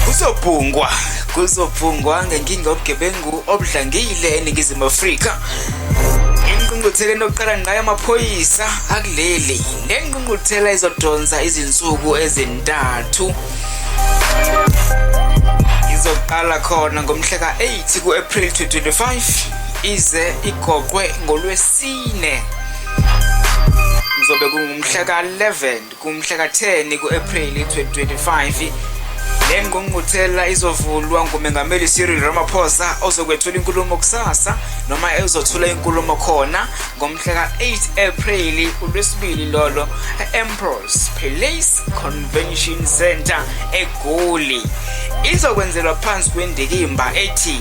kuzobhungwa kuzobhungwa ngenkinga yobugebengu obudlangile eningizimu afrika ingqungqutheleni yokuqala ngayo amaphoyisa akuleli le ngqungquthela izodonsa izinsuku ezintathu izoqala khona ngomhla ka-8 ku-april 2025 ize igoqwe ngolwesi Sine kuzobe kungumhla ka-11 kumhla ka-10 ku-ephreli 2025 le ngqungquthela izovulwa ngumengameli cyril ramaphosa ozokwethula inkulumo kusasa noma ezothula inkulumo khona ngomhla ka-8 ephreli ulwesibili lolo e-emprose palace convention center egoli izokwenzelwa phansi kwendikimba ethi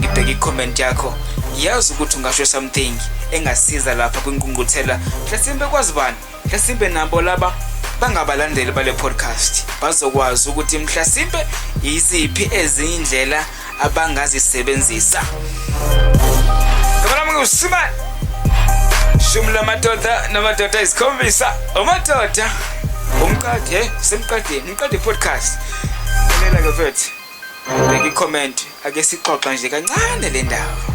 ngibheke i-comment yakho yazi ukuthi ungasho something engasiza lapha kwinqungquthela mhlasimbe kwazi bani mhlasimbe nabo laba bangabalandeli bale podcast bazokwazi ukuthi mhlasimbe yiziphi ezinye indlela abangazisebenzisa kabalami usimane shumi lamadoda namadoda izikhombisa umadoda umqade eh, semqadeni umqade podcast lalela ke mfethu Ubheka i-comment ake sixoxa nje kancane le ndaba.